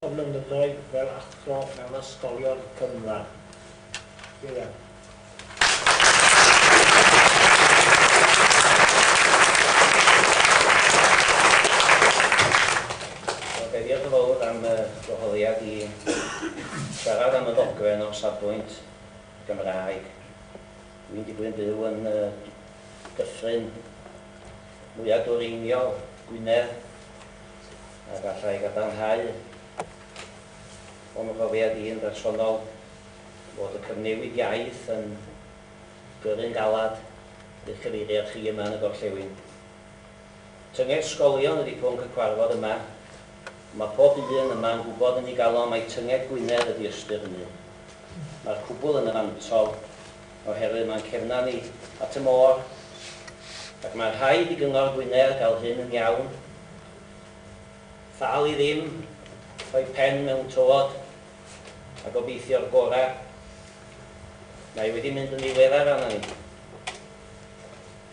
o flynyddoedd fel athro mewn ysgolion cynradd. Ieuan. Diolch yn fawr am y gwahoddiad i siarad am y ddogfen o'r safbwynt Gymraeg. Dwi'n digwydd yn byw yn y dyffryn mwyaf dwyreiniol Gwynedd, a galla i gadarnhau o'n mhrofiad i yn bersonol fod y cyfnewid iaith yn gyrru'n galed i'ch cyfeiriad chi yma yn y gorllewin. Tynged sgolion ydi pwnc y cwarfod yma, ond mae pob un yma yn gwybod yn ei galon mai tynged Gwynedd ydi ystyr hynny. Mae'r cwbl yn y fantol. oherwydd mae'n cefna ni at y môr ac mae'n rhaid i Gyngor Gwynedd gael hyn yn iawn. Thal i ddim rhoi pen mewn tywod a gobeithio'r gorau. Mae wedi mynd yn ddiweddar arna ni.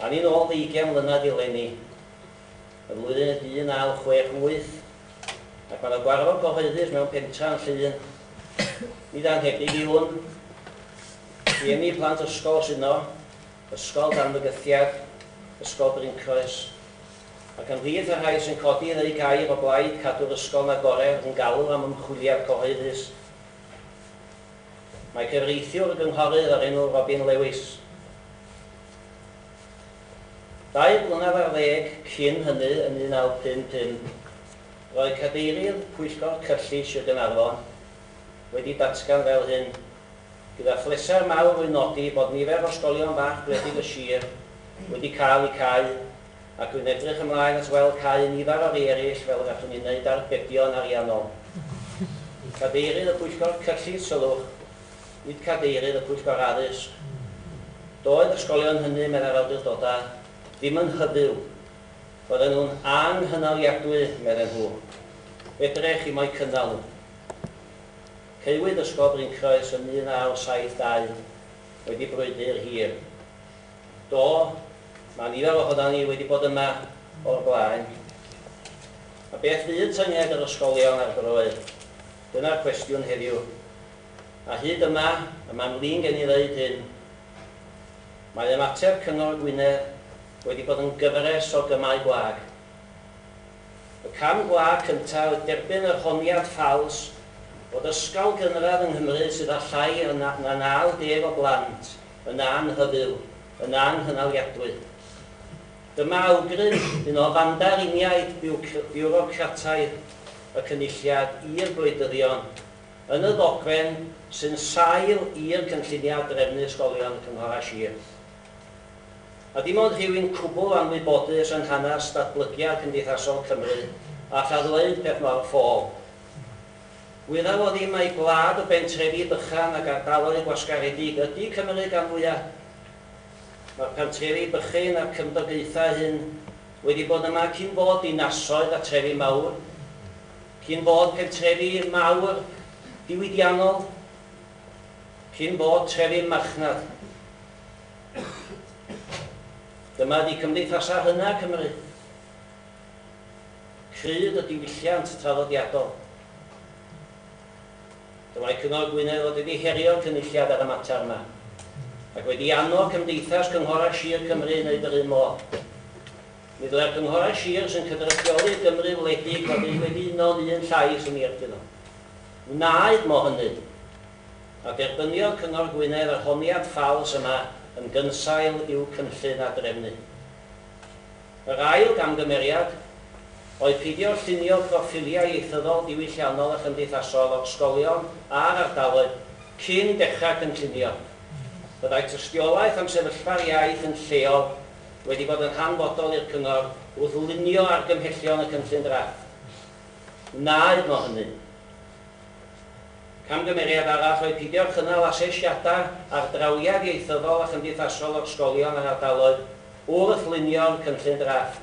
A ni'n ôl ddeugain mlynedd i leni, y flwyddyn y 1968, ac mae yna gwarfod gyhoeddus mewn pentra yn Llŷn. Nid anhebyg yw hwn. Rhieni plant ysgol sydd yno, Ysgol dan fygythiad, Ysgol Bryncroes, ac ymhlith y rhai sy'n codi yn eu gair o blaid cadw'r ysgol 'na gore yn galw am ymchwiliad cyhoeddus mae cyfreithiwr y gynghorydd o'r enw Robin Lewis. Dair blynedd ar ddeg cyn hynny yn 1955 roedd cadeirydd pwyllgor cyllid Sir Gaernarfon wedi datgan fel hyn, gyda phleser mawr wy'n nodi bod nifer o ysgolion bach gwledig y sir wedi cael eu cau ac rwy'n edrych ymlaen at weld cau nifer o rei eraill fel y gallwn ni wneud arbedion ariannol. Cadeirydd y Pwyllgor Cyllid Sylwch, nid Cadeirydd y Pwyllgor Addysg. Doedd yr ysgolion hynny, meddai'r awdurdodau, ddim yn hyfyw. Roedden nhw'n anghynaliadwy, medden nhw. Fedre chi mo'u cynnal nhw. Caewyd Ysgol Bryncroes yn 1972, wedi brwydr hir. Do, mae nifer ohonan ni wedi bod yma o'r blaen. A beth fydd tynged yr ysgolion ar droed? Dyna'r cwestiwn heddiw. A hyd yma, y mae'n flin gen i ddeud hyn, mae ymateb Cyngor Gwynedd wedi bod yn gyfres o gymau gwag. Y cam gwlad cyntaf oedd derbyn yr honiad ffals bod ysgol gynradd yng Nghymru sydd â llai na 90 o blant yn anhyfyw yn anghynaliadwy. Dyma awgrym un o fandariniaid biwrocrataidd y Cynulliad i'r gwleidyddion yn y ddogfen sy'n sail i'r cynlluniau drefnu ysgolion Cynghorau Sir. A dim ond rhywun cwbl anwybodus yn hanes datblygiad cymdeithasol Cymru all a ddweud peth mor ffôl. Wyddaf o ddim mai gwlad o bentrefi bychan ac ardaloedd gwasgaredig ydy Cymru gan fwya'. Mae'r pentrefi bychyn a'r cymdogaethau hyn wedi bod yma cyn bod dinasoedd a trefi mawr, cyn bod pentrefi mawr diwydiannol, cyn bod trefi'n marchnad. Dyma ydi cymdeithasau rhyngau Cymru. Crud y diwylliant traddodiadol. Dylai Cyngor Gwynedd fod wedi herio'r Cynulliad ar y mater yma, ac wedi annog Cymdeithas Cynghorau Sir Cymru i wneud yr un modd. Mi ddylai'r Cynghorau Sir sy'n cydrychioli'r Gymru wledig fod eu wedi uno'n un llais yn ei erbyn o. Wnaed mo hynny. a derbyniodd Cyngor Gwynedd yr honiad ffals yma yn gynsail i'w cynllun a drefnu. Yr ail gamgymeriad oedd peidio llunio proffiliau ieithyddol diwylliannol a chymdeithasol o'r ysgolion a'r ardaloedd cyn dechrau cynllunio. Byddai tystiolaeth am sefyllfa'r iaith yn lleol wedi bod yn hanfodol i'r Cyngor wrth lunio argymhellion y cynllun drafft. Wnaed mo hynny. Camgymeriad arall oedd pidio cynnal asesiadau ar drawiad ieithyddol a chymdeithasol o'r sgolion a'r ardaloedd wrth lunio'r cynllun drafft.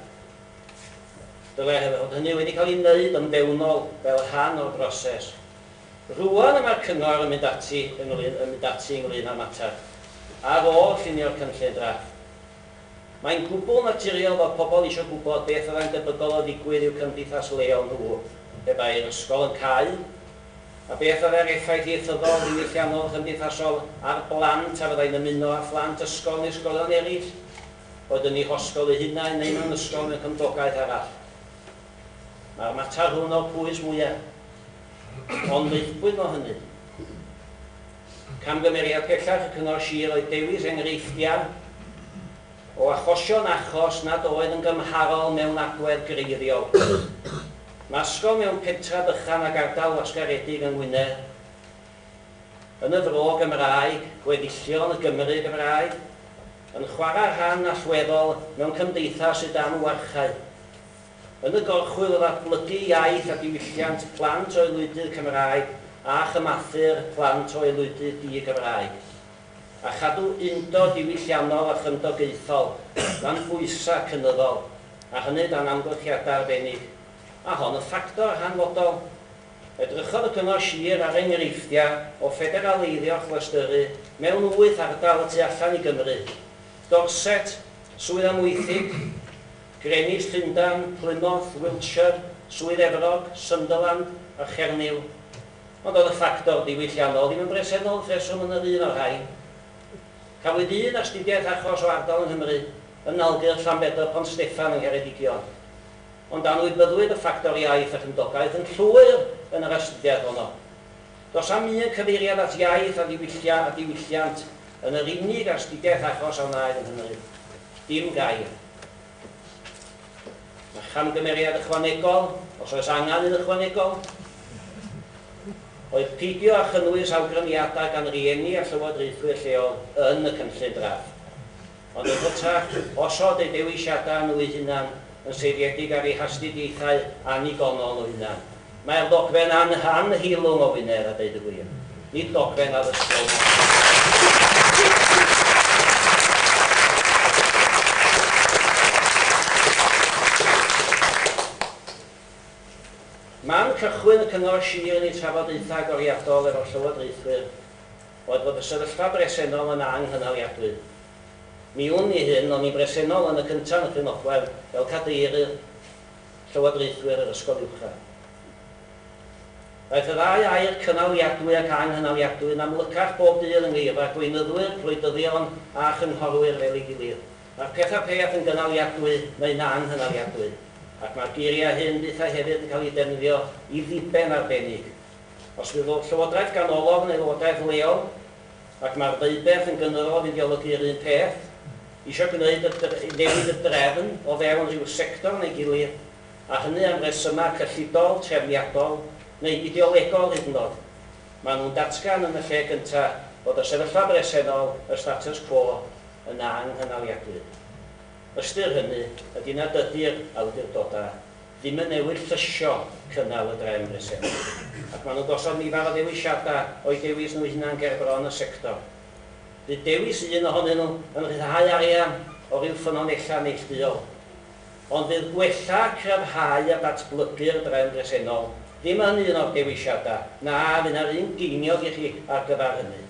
Dylai hynny fod hynny wedi cael ei wneud yn fewnol fel rhan o'r broses. Rŵan y mae'r Cyngor yn mynd ati ynglŷn yn mynd ati ynglŷn â'r mater ar ôl llunio'r cynllun drafft. Mae'n gwbl naturiol fod pobl eisiau gwybod beth fyddai'n debygol o ddigwydd i'w cymdeithas leol nhw pe bai'r ysgol yn cau, a beth fyddai'r effaith ieithyddol, ddiwylliannol, cymdeithasol ar blant a fyddai'n ymuno â phlant ysgol neu ysgolion eraill, boed yn eu hosgol eu hunain neu mewn ysgol mewn cymdogaeth arall. Mae'r mater hwn o'r pwys mwyaf. Ond meuthbwyd mo hynny. Camgymeriad pellach y Cyngor Sir oedd dewis enghreifftiau o achosion achos nad oedd yn gymharol mewn agwedd greiriol. Nasgodd mewn pentref bychan ag ardal wasgaredig yng Ngwynedd, yn y Fro Gymraeg, gweddillion y Gymry Gymraeg, yn chwarae rhan allweddol mewn cymdeithas sydd dan warchae. Yn y gorchwyl o ddatblygu iaith a diwylliant plant o aelwydydd Cymraeg a chymathur plant o aelwydydd di-Gymraeg, a chadw undod diwylliannol a chymdogaethol dan bwysau cynyddol, a hynny dan amgylchiadau arbennig, a hon yn ffactor hanfodol. Edrychodd y Cyngor Sir ar enghreifftiau o ffederaleiddio clystyrru mewn wyth ardal y tu allan i Gymru, Dorset, Swydd Amwythig, Greenwich, Llundain, Plymouth, Wiltshire, Swydd Efrog, Sunderland a Chernyw, ond doedd y ffactor diwylliannol ddim yn bresennol wrth reswm yn yr un o'r rhain. Cafwyd un astudiaeth achos o ardal yng Nghymru, yn Nalgyrch, Llanbedr, Pont Steffan yng Ngheredigion, ond anwybyddwyd y ffactor iaith a chymdogaeth yn llwyr yn yr astudiaeth honno. Does am un cyfeiriad at iaith a ddiwyllia a diwylliant yn yr unig astudiaeth achos a wnaed yng Nghymru. Dim gair. Mae camgymeriad ychwanegol, os oes angen un ychwanegol, oedd peidio â chynnwys awgrymiadau gan rieni a llywodraethwyr lleol yn y cynllun drafft, ond yn hytrach osod eu dewisiadau nhw'u hunan yn seiliedig ar eu hastudiaethau annigonol eu hunan. Mae'r ddogfen an han hilwng o Wynedd a deud y gwir. Nid dogfen addysgol na Llafur. Man cychwyn y Cyngor Sir yn ei trafodaethau agoriadol efo'r Llywodraethwyr oedd bod y sefyllfa bresennol yn ang hynaliadwy. Mi wn i hyn, o'n i'n bresennol yn y cyntaf yn y Llwynogwen fel Cadeirydd llywodraethwyr yr ysgol uwchradd. Daeth y ddau air, cynaliadwy ac anghynaliadwy, yn amlycach bob dydd yng ngeirfa gweinyddwyr, gwleidyddion a chynghorwyr fel ei gilydd. Mae'r pethau pell yn gynaliadwy neu'n anghynaliadwy, ac mae'r geiriau hyn fyth a hefyd yn cael eu defnyddio i ddiben arbennig. Os fydd llywodraeth ganolog yn aelodaeth leol, ac mae'r ddeuberth yn gynyddol o fideologi'r un peth, eisiau gwneud y newid y drefn o fewn rhyw sector neu gilydd, a hynny am resymau cyllidol, trefniadol neu ideolegol hyd yn oed. Maen nhw'n datgan yn y lle gyntaf bod y sefyllfa bresennol, y status quo, yn anghynaliadwy. Ystyr hynny ydy nad ydy'r awdurdodau Ddim yn newid llysio cynnal y drefn bresennol, ac maen nhw'n gosod nifer o ddewisiadau o'u dewis nhw eu hunain ger bron y sector. Bydd dewis un ohonyn nhw yn rhyddhau arian o ryw ffynonellau neillduol. Ond bydd gwella, cryfhau a datblygu'r drefn bresennol ddim yn un o'r dewisiadau, na, fydd 'na'r un geiniog i chi ar gyfer hynny.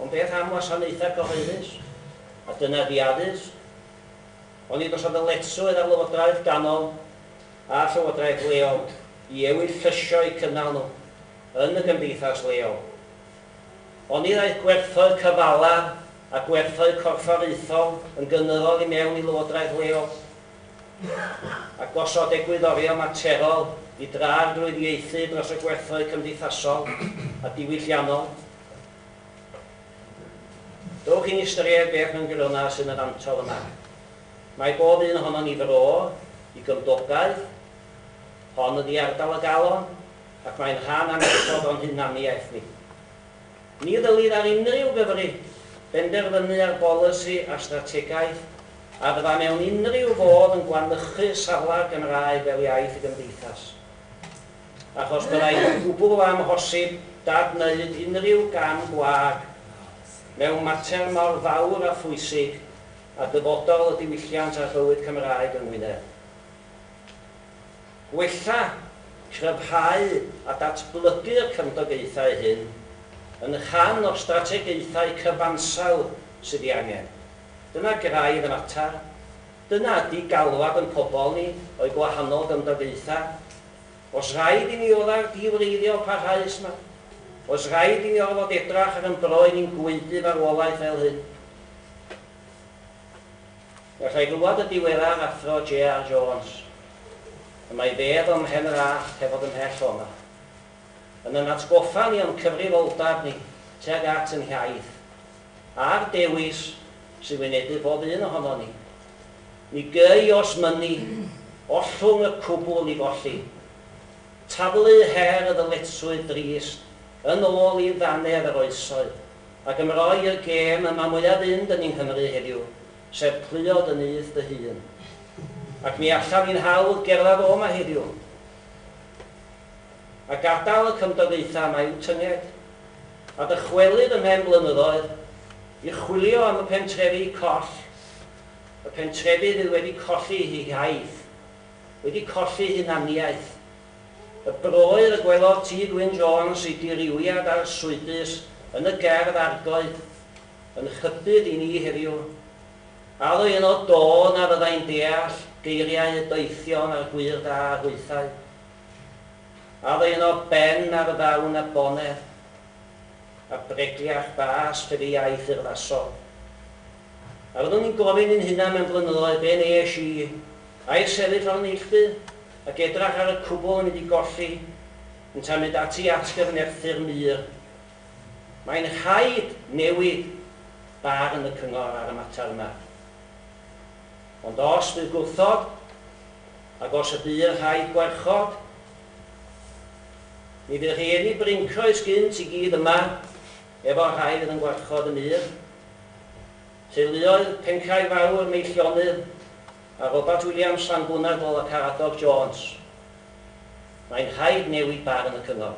Ond beth am wasanaethau cyhoeddus? A dyna 'di addysg. Oni bysa ddyletswydd ar lywodraeth ganol a llywodraeth leol i ewyllyssio'u cynnal nhw yn y gymdeithas leol? Oni ddaeth gwerthoedd cyfala a gwerthoedd corfforaethol yn gynyddol i mewn i lywodraeth leol? A gosod egwyddorion materol i dra'r drwydd ieithu dros y gwerthoedd cymdeithasol a diwylliannol? Dowch i'n ystyried beth mewn gwirionedd sy'n y fantol yma. Mae bob un ohonon ni fro i gymdogaeth, hon ydi ardal y galon ac mae'n rhan annatod o'n hunaniaeth ni. Ni ddylid ar unrhyw Gymry benderfynu ar bolisi a strategaeth a fydda mewn unrhyw fodd yn gwanychu safle'r Gymraeg fel iaith y gymdeithas. achos byddai'n gwbl amhosib dad-wneud unrhyw gam gwag mewn mater mor fawr a phwysig a dyfodol y diwylliant a'r bywyd Cymraeg yng Ngwynedd. Gwella, cryfhau a datblygu'r cymdogaethau hyn yn rhan o'r strategaethau cyfansawdd sydd ei angen. Dyna graidd y mater. Dyna ydy galwad ein pobl ni o'u gwahanol gymdogaethau. Oes rhaid i ni oddau'r di-wreiddiol parhaus 'ma? Oes rhaid i ni orfod edrach ar ein bro i ni'n gwaedu farwolaeth fel hyn? Galla i glywed y diweddar Athro JR Jones, y mae bedd o'm mhen yr allt heb fod ymhell o 'ma, yn yn atgoffa ni o'n cyfrifoldab ni tuag at yn hiaith, a'r dewis sy'n wynebu pob un ohonon ni. Mi gei os mynni ollwng y cwbl i golli. Taflu her y ddyletswydd drist yn ôl i ddaner yr oesoedd, ac ymroi i'r gêm y mae mwyaf fynd yn yng Nghymru heddiw, sef pluod y nyth dy hun. Ac mi allan ni'n hawdd gerdded o 'ma heddiw a gadael y cymdogaethau yma i'w tynged. a dychwelyd ymhen blynyddoedd i chwilio am y pentrefi coll, y pentrefi fydd wedi colli ei hiaith, wedi colli hunaniaeth, y broyr y gwelodd T. Gwyn Jones ei dirywiad arswydus yn y gerdd Argoed yn nghypydd i ni heddiw, a oedd yno do na fyddai'n deall geiriau y doethion a'r gwŷr da a hwythau. Ar un o ben ar ddawn a boner a bregliach bas fel y iaith urddasol. A fyddwn ni'n gofyn i'n hunan mewn blynyddoedd be wnes i? Air sefyll ar y neilltu ac edrach ar y cwbl yn mynd i golli yntau'n mynd ati at gyfnerthu'r mur. Mae'n rhaid newid barn y cyngor ar y mater yma. Ond os bydd gwrthod, ac os y bu yn rhaid gwarchod, mi fydd rhieni brincroes gynt i gyd yma efo'r rhai fydd yn gwarchod y mur. Teuluoedd Pencae Fawr, Meillionydd, a Robat Williams, Llanbwnadl a Caradog Jones. Mae'n rhaid newid barn y cyngor.